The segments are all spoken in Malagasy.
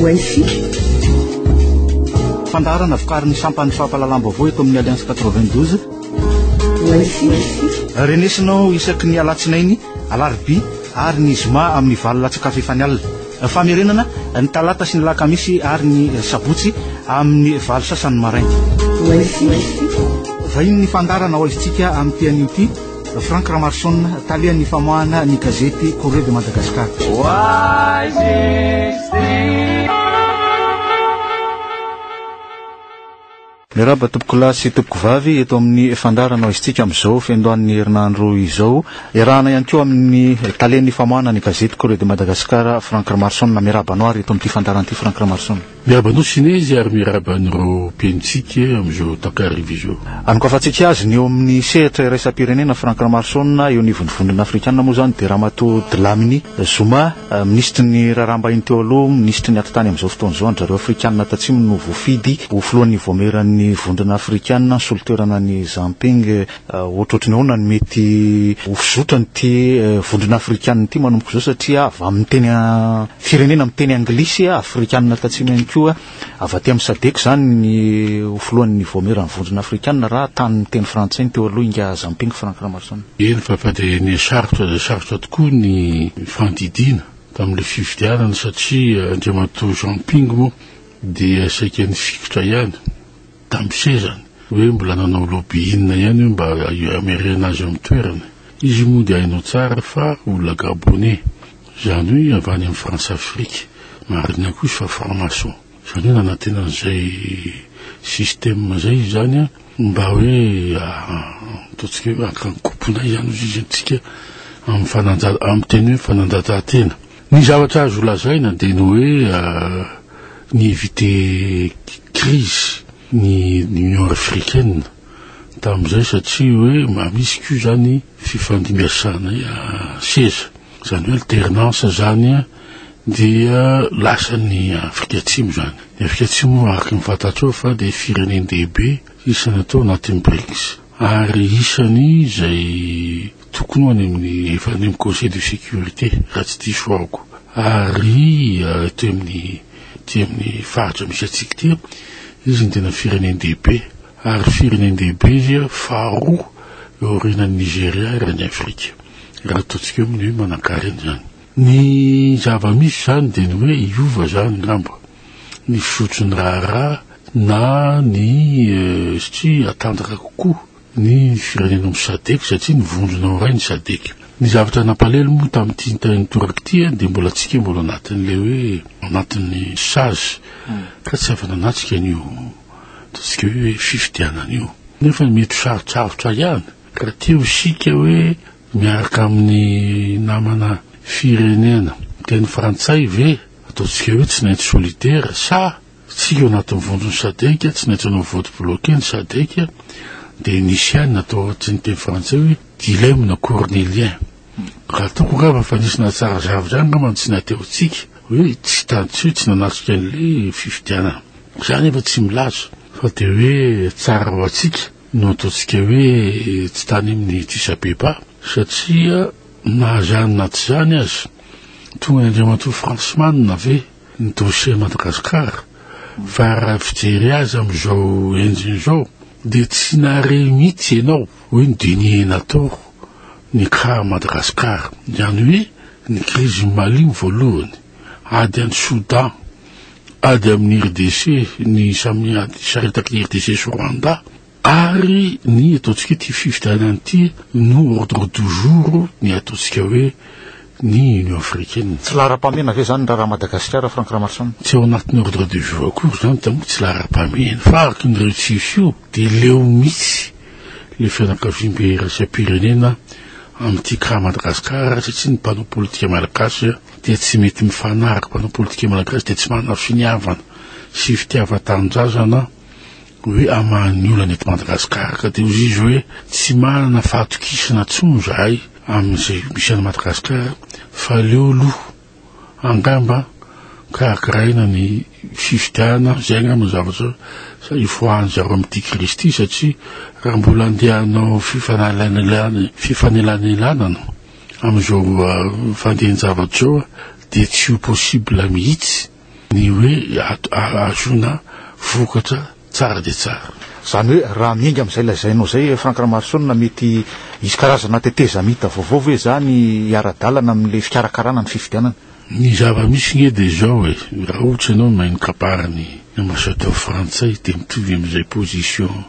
Wifi. Fandaharana vokarin'ny sampan'ny fampahalalam-baovao eto amin'ny Alliance 92. Wifi. Renesinao isaky ny alatsinainy, alarobia ary ny zoma amin'ny valo latsakafo efa ny alina. Famerenana ny talata sy ny lakamisy ary ny sabotsy amin'ny valo sasany maraina. Wifi. Vahiny ny fandaharana ho aizintsika amin'ny tean'io ity. Franck Ramarson, talehan'ny famoahana ny gazety Courrier de Madagascar. Miarahaba tompoko lahy sy tompoko vavy eto amin'ny fandaharana isitsika amin'izao fiandohan'ny herinandro izao. Iarahana ihany koa amin'ny talen'ny famoahana ny gazety Corée de Madagascar Franck Ramarson. Miarahaba anao ary eto amin'ity fandaharana ity Franck Ramarson. Miaraba anao Sinezy ary miaraba an'ireo mpihainotsika amin'izao takariva izao. Anokavantsika azy ny eo amin'ny sehatra iraisam-pirenena Franck Lamarson, eo anivon'ny vondrona afrikana moa izany dia Ramatoa Dlamini Zuma, minisitry ny raharaham-bahiny teo aloha, minisitry ny atitany amin'izao fotoana izao, an-dry zareo afrikana tatsimo no voafidy ho filohan'ny vaomieran'ny vondrona afrikana, ny solotoerana an'i Zamping Ohatrohatry ny ahoana no mety ho fizotran'ity vondrona afrikanina ity manomboka izao satria avy amin'ny teny firenena miteny anglisy afrikanina tatsimo ihany koa avy aty amin'ny sadec izany ny ho filohan'ny voameran'ny vondrona afrikanina raha tany miteny frantsay ny teo aloha ingahy Zamping Franck Ramarison. Eny fa fa dia ny sarotra dia sarotra tokoa ny fandidiana tamin'ilay fifidianana satria Andriamatoa Zamping moa dia saika nifikitra ihany. tambosezany hoe mbola nanao lobby inona ihany io mba hamerena azy eo amin'ny toerany. Izy moa dia hainao tsara fa olona gaboney. Izany hoe avy any amin'ny Françafrique. Marina koa izy fa franc-maçon. Izany hoe nanantena an'izay système izay izy izany mba hoe ataontsika hoe haka ny koponay izany hoy izy antsika amin'ny fananja-, amin'ny teny hoe fananjatahantena. Ny zavatra azo lazaina dia ny hoe ni-eviter crise ny Union africaine tamin'izay satria hoe mba misy koa izany fifandimbiasana seza, izany hoe alternance izany dia lasan'ny Afrika Atsimo izany. Ny Afrika Atsimo araka ny fantatrao fa dia firenen-dehibe isan'ny atao anatin'ny Brics ary isan'ny izay Tokony ho any amin'ny efa any amin'ny Conseil de sécurité raha tsy diso ahoko. Ary aty amin'ny aty amin'ny faritra misy antsika ity izy no tena firenen-dehibe. Ary firenen-dehibe izy faharoa eo aorianan'i Nigeria raha ny Afrika. Raha ataontsika eo amin'ny hoe manankarena izany. Ny zava-misy izany dia ny hoe hiova izany angamba ny fizotry ny raharaha na ny satria hatanjaka kokoa. ny firenena ao Sadec satria ny vondrona ao iray ny Sadec. Ny zavatra nampalelo moa tamin'ity tany nitoraka ity dia mbola antsika mbola anatin'ilay hoe anatin'ny sazy ka tsy afa-nanatrika an'io ataontsika hoe fifidianana io. Nefa mety ho sarotsarotra ihany ka raha te ho isika hoe miaraka amin'ny namana firenena miteny frantsay ve ataontsika hoe tsy nainty solitaire sa Tsy ao anatin'ny vondron'ny Sadc, tsy naintsony ho vote bloqué ny Sadc, dia nisy ihany natao ohatrin'ny teny frantsay hoe dilemme na cornélien. Raha toko angamba fa nisy nahatsara zavatra ihany angamba ny tsy naterontsika hoe tsy tantsoy, tsy nanatrika an'ilay fifidianana. Za nefa tsy milaza fa dia hoe tsara ho antsika no ataontsika hoe tsy tany amin'ny diso abeba satria na izany na tsy izany aza, tonga ny Andriamatoa Fransman ve? ny dossier Madagascar fa raha fijery azy amin'izao enjiny izao dia tsy nahare mihitsy ianao hoe ny dinier natao ny cas Madagascar izany hoe ny crise Mali ny voalohany ady any Soudan ady amin'ny RDC ny samy ady saretak'i RDC sy Rwanda Ary ny ataontsika hoe ity fifidianana ity no ordre du jour ny ataontsika hoe ny Union africaine. Tsy laharam-pahamehana ve izany raharaha Madagasikara, Franck Ramaroson? Tsy ao anatin'ny ordre du jour akory izany dia moa tsy laharam-pahamehana fa araka ny retsiso io dia leo mihitsy ilay fianakaviambe iraisam-pirenena amin'ity cas Madagasikara satria ny mpanao politika malagasy dia tsy mety mifanaraka, mpanao politika malagasy dia tsy manana finiavana sy fitiavan-tanindrazana hoe hamaha ny olana eto Madagasikara ka dia hoy izy hoe tsy manana fahatokisana intsony izahay amin'izay misy any Madagasikara fa aleo aloha angamba karakaraina ny fifidianana izay angamba ny zavatra ifoahan'izy ireo amin'ity krizy ity satria raha mbola andeha hanao fifanalainalana fifanelanelanana amin'izao fandehan-javatra izao dia tsy ho possible mihitsy Ny hoe ahazoana vokatra tsara dia tsara. Izany hoe raha miainga amin'izay lazainao izay Franck Ramaroson mety hisy karazana tetezamita vaovao ve izany hiara-dalana amin'ilay fikarakarana ny fifidianana? Ny zava-misy nge dia izao e, raha ohatra ianao mahay mikapara ny ambassadeur frantsay dia mitovy amin'izay position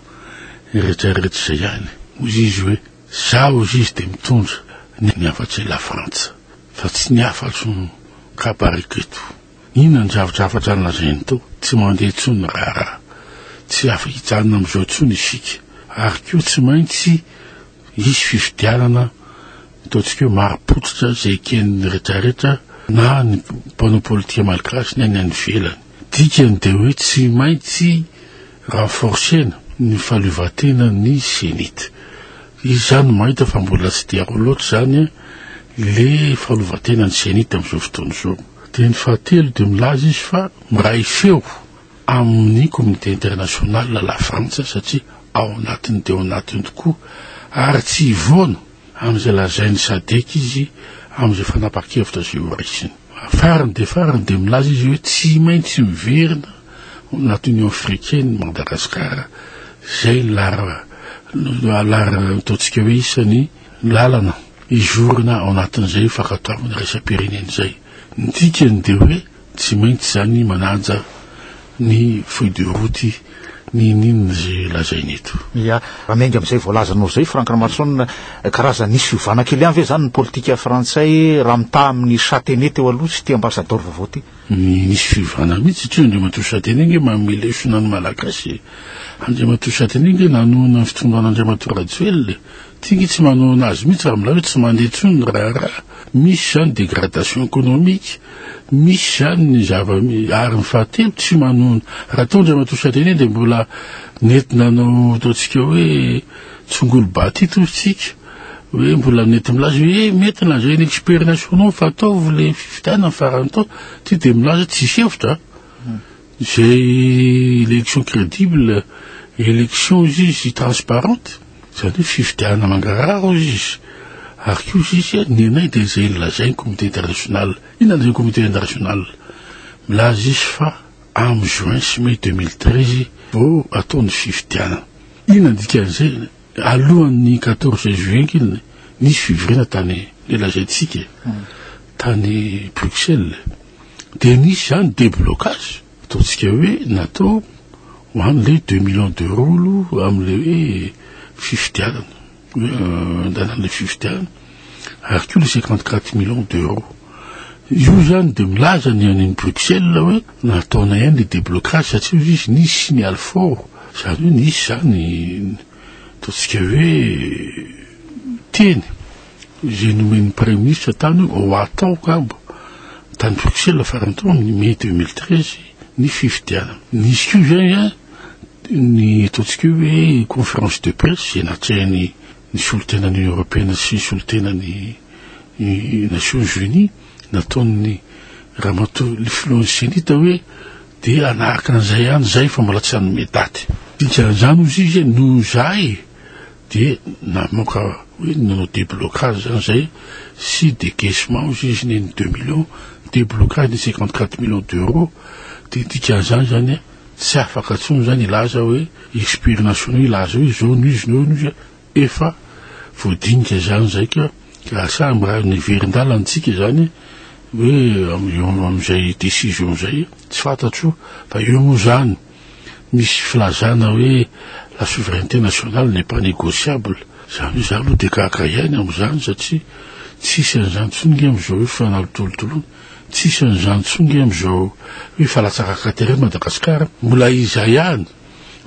rehetra rehetra izay ihany. Hoy izy hoe za hoy izy dia mitondra ny hafatry la frantsa. Fa tsy ny hafatro no kabariko eto. Inona ny drafidrafatra nolazainy tao? Tsy mandeha intsony ny raharaha. Tsy afa-hijanona amin'izao intsony isika. Ary koa tsy maintsy hisy fifidianana, ataontsika hoe marim-pototra izay eken'ny rehetrarehetra na ny mpanao politika malagasy na ny any ivelany. Dikany dia hoe tsy maintsy. Renforcer-na ny fahaleovantena ny Zenith. Izy izany mahita fa mbola tsy dia ao loatra izany le fahaleovantena ny Zenith amin'izao fotoana izao. Dia ny fahatelo dia milaza izy fa miray feo amin'ny communauté internationale la Frantsa satria ao anatiny dia ao anatiny tokoa ary tsy hivoana amin'izay lazain'ny Sadc izy amin'izay fanapahan-kevitra izay ho raisiny. Farany dia farany dia milaza izy hoe tsy maintsy miverina ho anaty Union africaine i Madagascar, izay ny lara lara ataontsika hoe isan'ny lalana hizorana ao anatin'izay fankatoavana iraisam-pirenena izay. Ny dikany dia hoe. Tsy maintsy zany manaja ny feuille de route ninininina izay lazainy eto. Ya, raha miainga amin'izay voalazanao izay Franck Ramaroson, karazany nisy fiovana kely ihany ve izany ny politika frantsay raha mitaha amin'ny Chataignet teo aloha sy ity ambasadaoro vaovao ity? Nisy fiovana mihitsy satria Andriamatoa Chataignet ange manome lesona ny Malagasy e! Andriamatoa Chataignet ange nanohana ny fitondran' Andriamatoa Rajoelina e! Ty nge tsy manohana azy mihitsy raha milay hoe tsy mandeha intsony ny raharaha, misy izany dégradation économique, misy izany ny zava ary ny fahatelo tsy manohana raha teo Andriamatoa Chadenier dia mbola nety nanao ataontsika hoe tsongolo ba ity tohintsika hoe mbola nety milaza hoe eh mety lanjain'ny experts nationaux fa ataovy ilay fifidianana ny farany tao, ty dia milaza tsisy hevitra an! Izay élection crédible, élection izy izy transparente, izany hoe fifidianana mangarahara hozy izy, ary koa izy izy ny anay dia izay nolazain'ny comité international, inona ilay comité international? milaza izy fa amin'ny juin sy mai deux mille treize vao atao ny fifidianana, inona ny dikan'izay? alohan'ny quatorze juillet ange nisy fivoriana tany, ilay lazaintsika, tany Bruxelles. Dia nisy izany déblocage, ataontsika hoe natao ho an'ilay deux millions d'euros aloha amin'ilay hoe fifidianana, hoe andalan'ilay fifidianana, ary koa ilay cinquante quatre millions d'euros. Io izany dia milaza ny any Bruxelles hoe nataonay ihany ilay déblocage satria hoy izy nisy signal fort, izany hoe nisy izany ataontsika hoe teny. izay nomen'ny Praiminisitra tany hoe ho atao angamba tany Bruxelles farany tao amin'ny mai deux mille treize ny fifidianana. Nisy koa izay a, ny ataontsika hoe hoe conférence de presse izay natrehan'ny ny solontenan'ny Eoropeana sy solontenan'ny Nations Unies nataon'ny ramatoa ny filohan'ny Cenit hoe dia hanaraka an'izay ihany izay fa mbola tsy nanome daty. Dikan'izany hoy izy noho izahay, dia namoaka hoe nanao déblocage zany zay sy décaissement hozy izy neny deux millions déblocage ny cinquante quatre millions d'euros dia dikan'izany zany hoe tsy afaka intsony zany hilaza hoe experts nationaux hilaza hoe izao no izy no izy efa voadinika izany izay ka lasa mba niverin-dalana antsika izany hoe amin'izay décision izay tsy fantatro fa eo moa izany Misy filazana hoe la souveraineté nationale n'est pas négociable, izany hoe za aloha dia gaga hiaina amin'izany satria tsisy an'izany intsony nge amin'izao hoe fanalotolotoloana, tsisy an'izany intsony nge amin'izao hoe falatsakaka tery eto Madagasikara, mbola iza ihany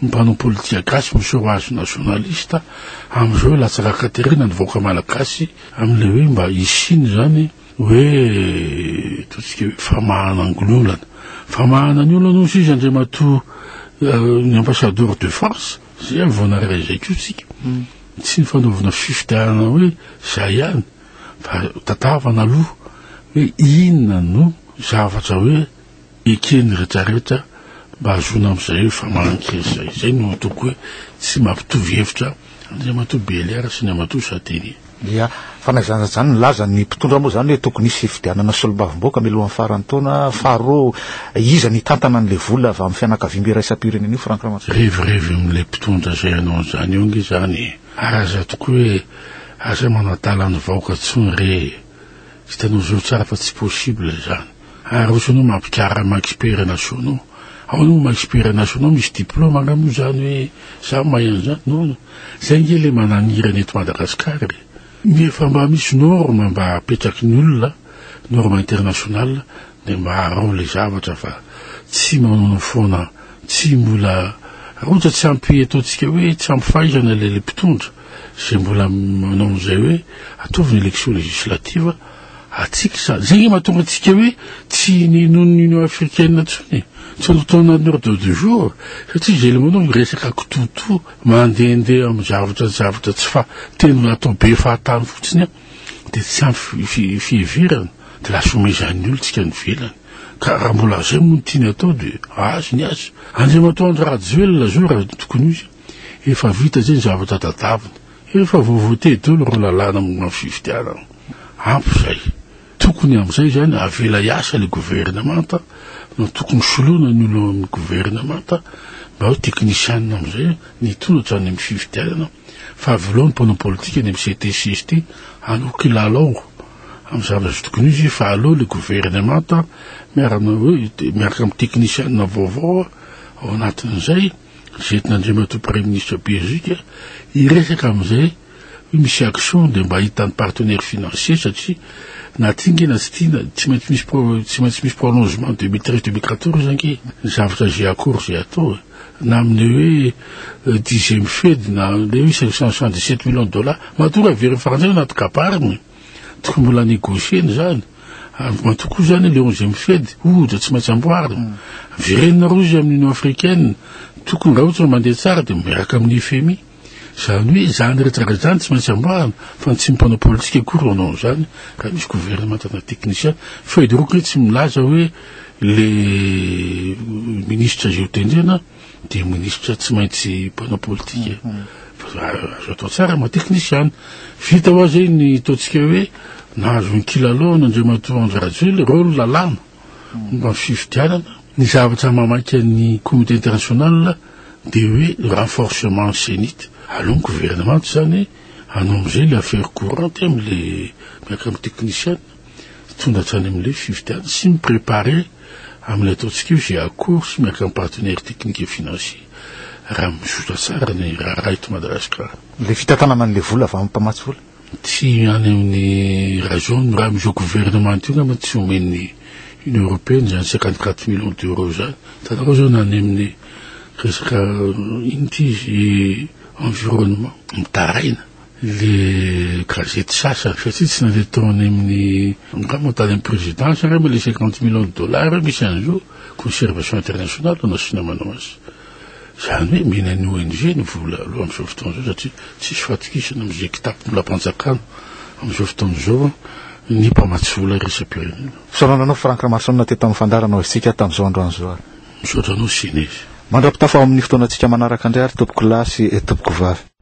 ny mpanao politika gasy miseho azy nationaliste amin'izao hoe latsakaka tery na ny vahoaka malagasy amin'ilay hoe mba hisiany izany Hoe ataontsika hoe famahana ny olana. Famahana ny olana hoy sisa Andriamatoa ny ambassadeur de France, zay ihany vao nahare izay koa tsika. Hmm. Tsy ny fanaovana fifidianana hoe zay ihany fa tandavana aloha hoe inona no zavatra hoe Eken'ny retraretra mba hahazoana amin'izay hoe fa manankery izay. Izay no ataoko hoe tsy mampitovy hevitra Andriamatoa Belliard sy Andriamatoa Chatellier. Dia fa na izany na izany nilaza ny mpitondra moa izany hoe tokony hisy fifidianana solombavamboaka mialohan'ny faran'ny taona. Faharoa, iza no hitantana an'ilay vola avy amin'ny fianakaviam iraisam-pirenena io Franck Ramanantsoa? Revirevy amin'ilay mpitondra izay hanao an'izany eo ange izany e! Aza tokoa hoe aza manadala ny vahoaka intsony re e! Hitanao izao tsara fa tsy possible izany. Ary osa anao mampikarra maexpert nationaux ao anao maexpert nationaux misy diplôme angaha moa zany hoe za mahay an'zany non non zay nge le manangirana eto Madagascar e nefa mba misy norme mba apetraky ny olona norme international de mba arao le zavatra fa tsy manao foana tsy mbola raha ohatra tsy ampy ataontsika hoe tsy ampy fahaizana le le mpitondra zay mbola manao an'zay hoe ataovy ny élection législative Antsika izany. Izay angamba mahatonga antsika hoe tsy ninoan'ny Union africaine intsony e. Tsy tonga tao anatin'ny ordre du jour satria izay ilay manao ny resaka kitoatoa mandehandeha amin'ny zavatra zavatra tsy fa teny natao be fahatany fotsiny an, dia tsy ampy fiheverana dia lasa omezan'ny olontsika any ivelany. Ka raha mbola izay moa no tiany atao dia azy ny azy. Andriamatoa Andry Rajoelina izao raha tokony ho izy efa vita izay ny zavatra tadaviny. Efa voavote dolo ireo lalàna momba ny fifidianana. Ampy izay. Tokony amin'izay izany avela hiasa ilay governemanta no tokony soloina ny olona ao amin'ny governemanta mba hoe teknisianina amin'izay ny hitondra hatrany amin'ny fifidianana fa avelao ny mpanao politika ny amin'ny CT CST hanao kilalao amin'ny zavatra tsy tokony ho izy fa aleo ilay governemanta miarana hoe miaraka amin'ny teknisianina vaovao ao anatin'izay Zety Nandriamatoa Praiminisitra Belzika hiresaka amin'izay hoe misy action dia mba hitan'ny partenaire financier satria na tiange na tsy tiana tsy maintsy misy tsy maintsy misy prolongement deux mille treize deux mille quatorze ange ny zavatra izay akory izay atao e. na amin'ny hoe euh, dixième fed na le hoe cinq cent soixante dix sept millions de dollars matoa raha very faranjana anaty kabarina e. Tokony mbola negocier-na izany. En tout cas izany le onzième fed, ohatra, tsy maintsy amboarina. Verenina aloha izy amin'ny Union africaine. Tokony raha ohatra hoe mandeha tsara dia miaraka amin'ny FMI. Izany hoe izany rehetra rehetra izany tsy maintsy amboarina fa ny tsy mpanao politika akory no hanao an'izany raha misy gouvernemanta na technicien. Feuille de route-ny tsy milaza hoe le ministra izay hotendrena. dia minisitra tsy maintsy mpanao politika fa azo atao tsara ma teknisiana vita hoa zay ny taontsika hoe nahazo ny kilalao ny andriamatoa andry rajoely rôle lalàna mba ny fifidianana ny zavatra mamaika ny comité international dia hoe renforcement cenit aloha ny gouvernement zany hanao amizay le affaire courante amle miaraka amy teknisiana Tonga hatrany amin'ilay fifidianana sy mi-preparer amin'ilay ataontsika io izay accord sy miaraka amin'ny partenaires techniques et financiers raha mizotra tsara ny raharaha eto Madagasikara. Ilay fitantanana an'ilay vola avy amin'ny mpamatsy vola? Tsy any amin'ny raison ny raha amin'izao gouvernement io angamba no tsy omen'ny Union Européenne izany cinquante quatre millions d'euros izany. Hitanareo izao na any amin'ny resaka inona ity izy environnement mitaraina. le gazety sasany satria tsy nandeha tao any amin'ny angamba tany amin'ny présidence angamba ilay cinquante millions de dollars misy an'izao conservation internationale no nasiana manao azy izany hoe mena ny ONG ny vola aloha amin'izao fotoana izao satria tsisy fahatokisana amin'izay kitapo mbola am-panjakana amin'izao fotoana izao ny mpamatsy vola iraisam-pirenena. Fisaorana anao Franck Ramarosaonina teto amin'ny Fandary nanao isika tamin'izao andro an'izao ary. Misaotra anao Sine. Mandra-pitafa ho amin'ny fotoanantsika manaraka indray ary Tompokolahy sy Tompokovavy.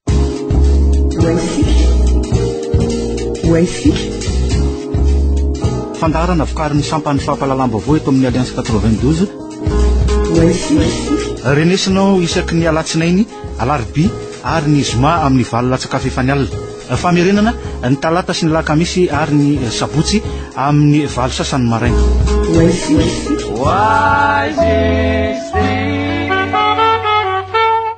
Fandaharana vokarin'ny sampan'ny fampahalalam-baovao eto amin'ny Alliance 92. Renesinao isaky ny alatsinainy, alarobia ary ny zoma amin'ny valo latsakafo efa ny alina. Famerenana ny talata sy ny lakamisy ary ny sabotsy amin'ny valo sasany maraina. Why